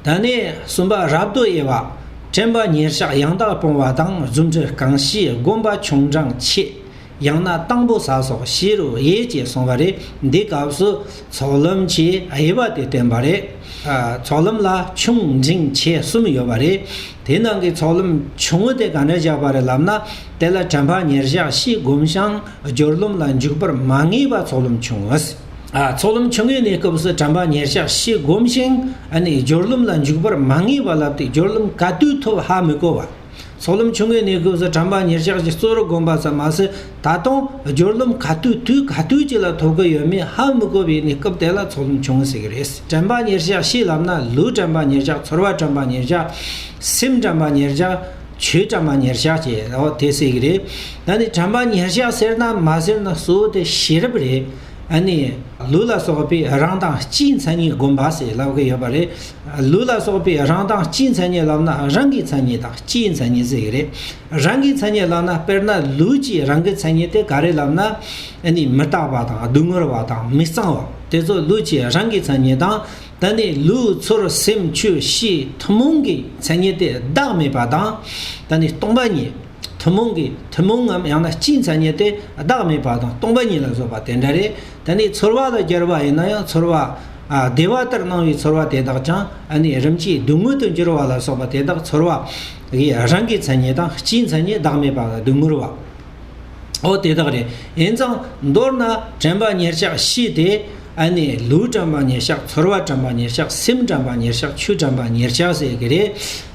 ད་ནས་གསུམ་པ་རབ་ཏུ་དབྱེ་བ། དྲན་པ་ཉེར་གཞག་ཡང་དག་སྤོང་བ་དང་རྫུ་འཕྲུལ་གང་ཞིག་སྒོམ་པ་ཆུང་འབྲང་ཆེ། ཡང་ན་དང་པོ་ཟ་སོགས་བཞི་རུ་དབྱེ་ཅེས་གསུངས་པ་རེད་འདི་སྐབས་སུ་ཚོགས་ལམ་གྱི་དབྱེ་བ་དེ་བསྟན་པ་རེད། ཚོགས་ལམ་ལ་ཆུང་འབྲིང་ཆེ་གསུམ་ཡོད་པ་རེད། དེ་ནང་གི་ཚོགས་ལམ་ཆུང་ངུ་དེ་གང་འདྲ་བཞག་པ་རེད་ལབ་ན་དེ་ལ་དྲན་པ་ཉེར་གཞག་བཞི་སྒོམ་བྱང་སྦྱོར་ལམ་ལ་འཇུག་པར་མ་ངེས་པ་ཚོགས་ལམ་ཆུང་ངུ། ཚོགས་ལམ་ཆུང་ངུའི་གནས་སྐབས་སུ་དྲན་པ་ཉེར་གཞག་ཞེས་བསྒོམ་ཞིང་སྦྱོར་ལམ་ལ་འཇུག་པར་མ་ངེས་པ་ལབ་སྟེ་སྦྱོར་ལམ་ག་དུས་ཐོབ་ཧ་མི་གོ་བ། ཚོགས་ལམ་ཆུང་ངུའི་གནས་སྐབས་སུ་དྲན་པ་ཉེར་གཞག་ཅེས་གཙོ་བོར་བསྒོམ་པ་ཙམ་མ་ཟད་ད་དུང་སྦྱོར་ལམ་ག་དུས་དུས་ག་དུས་ཅིག་ལ་ཐོབ་ཀྱི་ཡོད་མེད་ཧ་མི་གོ་བའི་གནས་སྐབས་དེ་ལ་ཚོགས་ལམ་ཆུང་ངུ་ཟེར་གྱི་རེད། དྲན་པ་ཉེར་གཞག་ཞེས་ལབ་ན་ལུས་དྲན་པ་ཉེར་གཞག་ཚོར་བ་དྲན་པ་ཉེར་གཞག་སེམས་དྲན་པ་ཉེར་གཞག། ཆོས་གྲམ་པ་ཉེར་གཞག་བྱས་ཨོ་དེ་སྲིད་ཀྱི་རེད་ད་ནི་གྲམ་པ་ཉེར་གཞག་ཟེར་ན་མ་ཟེར་ན་གསོལ་དེ་ཤེས་རབ་རེད་ཨ་ནི་ལུས་ལ་སོགས་པའི་རང་མདངས་སྤྱིའི་མཚན་ཉིད་སྒོམ་པ་ཞེས་ལབ་ཀྱི་ཡོད་པ་རེད་ལུས་ལ་སོགས་པའི་རང་མདངས་སྤྱིའི་མཚན་ཉིད་ལབ་ན་རང་གི་མཚན་ཉིད་དང་སྤྱིའི་མཚན་ཉིད་ཟེར་གྱི་རེད་རང་གི་མཚན་ཉིད་ལབ་ན་དཔེར་ན་ལུས་ཀྱི་རང་གི་མཚན་ཉིད་དེ་ག་རེ་ལབ་ན་ཨ་ནི་མི་རྟག་པ་དང་སྡུག་བསྔལ་བ་དང་མི་གཙང་བ་དེ་ཚོ་ལུས་ཀྱི་རང་གི་མཚན་ཉིད་དང། ད་ནི་ལུས་ཚོར་སེམས་ཆོས་ཤེས་ཐུན་མོང་གི་མཚན་ཉིད་དེ་བདག་མེད་པ་དང། ད་ནི་སྟོང་པ་ཉིད། ཐུན་མོང་གི་ཐུན་མོང་ངམ་ཡང་ན་སྤྱིའི་མཚན་ཉིད་དེ་བདག་མེད་པ་དང་སྟོང་པ་ཉིད་ལ་བཟོད་པ་དེ་འདྲ་རེད། ད་ནི་ཚོར་བ་དང་སྦྱར་བ་ཡིན་ན་ཡང་ཚོར་བ། བདེ་བ་ལྟར་སྣང་བའི་ཚོར་བ་དེ་དག་ཀྱང་ཨ་ནི་རིམ་གྱིས་སྡུག་བསྔལ་དུ་འགྱུར་བ་ལ་སོགས་པ་དེ་དག་ཚོར་བ། རང་གི་མཚན་ཉིད་དང་སྤྱིའི་མཚན་ཉིད་བདག་མེད་པ་ལ་སྡུག་བསྔལ་བ། ཨོ་དེ་དག་རེད་ཡིན་ཙང་མདོར་ན་དྲན་པ་ཉེར་གཤགས་བཞི་དེ་ཨ་ནི་ལུས་དྲན་པ་ཉེར་གཤགས་ཚོར་བ་དྲན་པ་ཉེར་གཤགས་སེམས་དྲན་པ་ཉེར་གཤགས་ཆོས་དྲན་པ་ཉེར་གཤགས་ཟེར་གྱི་རེད་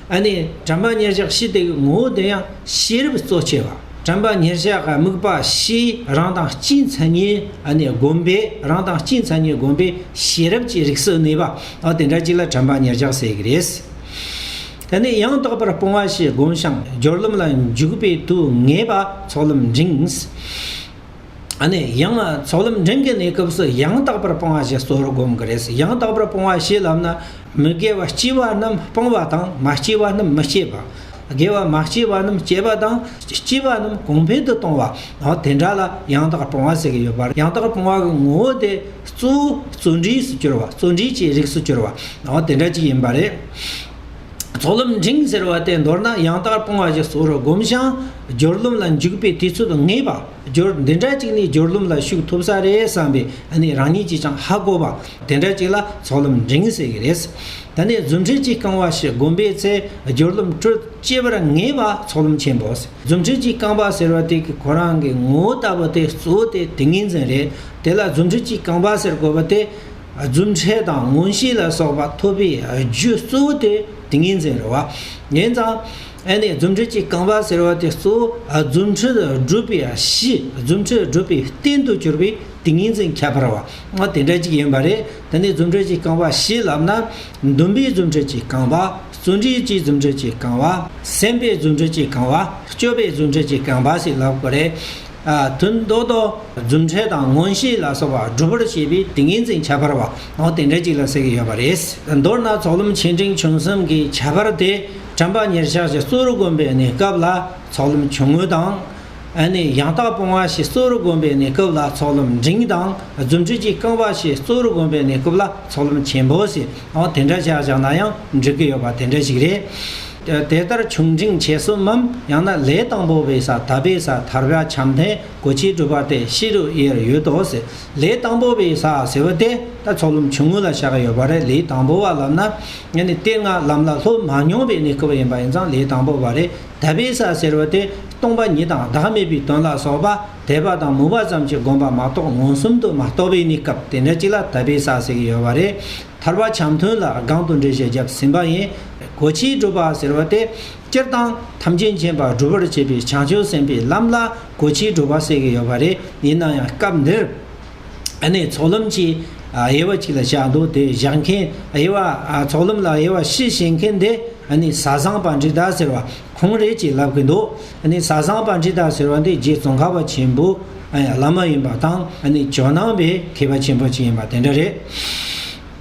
ཨ་ནི་དྲན་པ་ཉེར་གཤགས་བཞི་དེ་གི་ངོ་བོ་དེ་ཡང་ཤེས་རབ་གཙོ་ཆེ་བ་དྲན་པ་ཉེར་གཤགས་ཀྱི་དམིགས་པ་བཞི་རང་དང་སྤྱིའི་མཚན་ཉིད་ཨ་ནི་བསྒོམ་པས་རང་དང་སྤྱིའི་མཚན་ཉིད་བསྒོམ་པས་ཤེས་རབ་ཀྱི་རིགས་སུ་གནས་པ་ཨོ་དེ་འདྲ་གཅིག་ལ་དྲན་པ་ཉེར་གཤགས་ཟེར་གྱི་རེད། དེ་ནས་ཡང་དག་པར་སྤོང་བ་ཞེས་བསྒོམ་ཞིང་སྦྱོར་ལམ་ལ་འཇུག་པའི་དུས་ངེས་པ་ཚོགས་ལམ་འབྲིང། ནས་ཡང་ཚོགས་ལམ་འབྲིང་གི་གནས་སྐབས་སུ་ཡང་དག་པར་སྤོང་བ་ཞེས་གཙོ་བོར་བསྒོམ་གྱི་རེད། ཡང་དག་པར་སྤོང་བ་ཞེས་ལབ་ན་མི་དགེ་བ་སྐྱེས་པ་རྣམས་སྤོང་བ་དང་མ་སྐྱེས་པ་རྣམས་མི་སྐྱེད་པ། དགེ་བ་མ་སྐྱེས་པ་རྣམས་སྐྱེད་པ་དང་སྐྱེས་པ་རྣམས་གོང་འཕེལ་དུ་གཏོང་བ། དེ་འདྲ་ལ་ཡང་དག་སྤོང་བ་ཟེར་གྱི་ཡོད་པ་རེད། ཡང་དག་སྤོང་བ་གི་ངོ་བོ་དེ་གཙོ་བོ་བརྩོན་འགྲུས་སུ་གྱུར་བ་བརྩོན་འགྲུས་ཀྱི་རིགས་སུ་གྱུར་བ་འོ་དེ་འདྲ་ཅིག་ཡིན་པ་རེད། ཚོགས་ལམ་འབྲིང་ཟེར་བ་དེ་མདོར་ན་ཡང་དག་སྤོང་བ་ཞིག་ཟོག་རུ་སྒོམ་བྱང་སྦྱོར་ཀླུང་ལ་འཇུག་པའི་དུས་ཚོད་ངེས་པ་སྦྱོར་འདི་འདྲ་ཅིག་ནི་སྦྱོར་ཀླུང་ལ་ཞུགས་ཐུབ་ས་རེད་བསམ་པའི་ནི་རང་ཉིད་ཀྱིས་ཀྱང་ཧ་གོ་བ་དེ་འདྲ་ཅིག་ལ་ཚོགས་ལམ་འབྲིང་ཟེར་གྱི་རེད། ད་ནི་རྫུ་འཕྲུལ་གྱིས་བསྐང་བ་ཞིག་སྒོམ་པའི་ཚེ་སྦྱོར་ལམ་སྤྲོས་བཅས་པར་ངེས་པ་ཚོགས་ལམ་ཆེན་པོ། རྫུ་འཕྲུལ་གྱི་རྐང་པ་ཟེར་བ་དེ་གི་གོ་རང་གི་ངོ་བོ་ལྟ་བུ་དེ་གཙོ་བོ་དེ་ཏིང་ངེ་འཛིན་རེད་དེ་ལ་རྫུ་འཕྲུལ་གྱི་རྐང་པ་ཟེར་དགོས་པ་དེ། རྫུ་འཕྲལ་དང་མངོན་ཤེས་ལ་སོགས་པ་ཐོབ་པའི་རྒྱུ་གཙོ་བོ་དེ་ཏིང་ངེ་འཛིན་རེད་བ། ཡིན་ཙང། ཨེ་ནས་རྫུ་འཕྲུལ་གྱི་རྐང་པ་ཟེར་བ་དེ་གཙོ་བོ་རྫུ་འཕྲུལ་སྒྲུབ་པའི་གཞི་རྫུ་འཕྲུལ་སྒྲུབ་པའི་རྟེན་དུ་གྱུར་པའི་ཏིང་ངེ་འཛིན་ཁྱད་པར་བ་དེ་འདྲ་གཅིག་ཡིན་པ་རེད་དེ་ནས་རྫུ་འཕྲུལ་གྱི་རྐང་པ་ཞེས་ལབ་ན། འདུན་པའི་རྫུ་འཕྲུལ་གྱིས་གང་བ། བརྩོན་འགྲུས་ཀྱི་རྫུ་འཕྲུལ་གྱིས་གང་བ། སེམས་པའི་རྫུ་འཕྲུལ་གྱིས་གང་བ། སྤྱོད་པའི་རྫུ་འཕྲུལ་གྱིས་གང་བ་ཞེས་ལབ་དགོས་རེད། དོན་མདོ་དོ། རྫུ་འཕྲུལ་དང་མངོན་ཤེས་ལ་སོགས་པ་སྒྲུབ་པར་བྱེད་པའི་ཏིང་ངེ་འཛིན་ཁྱད་པར་བ། འོ་དེ་འདྲ་ཅིག་ལ་ཟེར་གྱི་ཡོད་པ་རེད། མདོར་ན་ཚོགས་ལམ་ཆེ་འབྲིང་ཆུང་གསུམ་གྱི་ཁྱད་པར་དེ་དྲན་པ་ཉེར་ཆགས་ཀྱི་གཙོ་རུ་བསྒོམ་པའི་གནས་སྐབས་ལ་ཚོགས་ལམ་ཆུང་ངུ་དང། ནི་ཡང་དག་སྤོང་བ་ཞེས་གཙོ་བོར་བསྒོམས་པའི་གནས་སྐབས་ལ་ཚོགས་ལམ་འབྲིང་དང་རྫུ་འཕྲུལ་གྱིས་བསྐང་བ་ཞེས་གཙོ་བོར་བསྒོམས་པའི་གནས་སྐབས་ལ་ཚོགས་ལམ་ཆེན་པོ་ཞེས་དེ་འདྲ་བྱས་བཞག་ན་ཡང་འགྲིག་གི་ཡོད་པ་དེ་འདྲ་ཞིག་རེད། དེ་ལྟར་བྱུང་འབྲིང་ཆེ་གསུམ་མམ་ཡང་ན་ལས་དང་པོ་བའི་ས་ད་པའི་ས་ཐར་བ་བྱམས་ལྡན་གོ་ཆའི་སྒྲུབ་པ་སྟེ་ཕྱི་རུ་དབྱེར་ཡོད་དོ། ལས་དང་པོ་བའི་ས་ཟེར་བ་དེ་ད་ཚོགས་ལམ་ཆུང་ངུ་ལ་བཞག་ཡོད་པ་རེད་ལས་དང་པོ་བ་ལབ་ན་ནི་དེ་སྔ་ལམ་ལ་ལྷུར་མ་མྱོང་བའི་གནས་སྐབས་ཡིན་པ་ཡིན་ཙང་ལས་དང་པོ་བ་རེད། དད་པའི་ས་ཟེར་བ་དེ་སྟོང་པ་ཉིད་དང་བདག་མེད་པའི་དོན་ལ་སོགས་པ་དད་པ་དང་མོས་པ་ཙམ་གྱིས་བསྒོམ་པ་མ་གཏོགས་མངོན་སུམ་དུ་མ་རྟོགས་པས་ནི་སྐབས་དེ་འདྲ་ཅིག་ལ་དད་པའི་ས་ཟེར་གྱི་ཡོད་པ་རེད། ཐར་བ་འཆམ་མཐུན་ལ་སྒང་དུ་འགྲེལ་བཤད་བརྒྱབ་ཟིན་པ་ཡིན། གོ་ཆའི་སྒྲུབ་པ་ཟེར་བ་དེ་སྤྱིར་བཏང་ཐམས་ཅད་མཁྱེན་པ་སྒྲུབ་པར་བྱེད་པའི་བྱང་ཆུབ་སེམས་དཔའི་ལམ་ལ་གོ་ཆའི་སྒྲུབ་པ་ཟེར་གྱི་ཡོད་པ་རེད་ཡིན་ན་ཡང་སྐབས་འདིར། ནས་ཚོགས་ལམ་གྱི་དབྱེ་བ་གཅིག་ལ་བཞག་འདུག་དེ་བཞག་མཁན་དབྱེ་བ་ཚོགས་ལམ་ལ་དབྱེ་བ་བཞི་བྱེད་མཁན་དེ་བཟའ་བཟང་པ་འབྲི་དར་ཟེར་བ་ཁོང་རེད་ཅེས་ལབ་གི་འདུག་བཟའ་བཟང་པ་འབྲི་དར་ཟེར་བ་འདི་རྗེ་ཙོང་ཁ་པ་ཆེན་པོའི་བླ་མ་ཡིན་པ་དང་ཇོ་ནང་པའི་མཁས་པ་ཆེན་པོ་ཅིག་ཡིན་པ་དེ་འདྲ་རེད།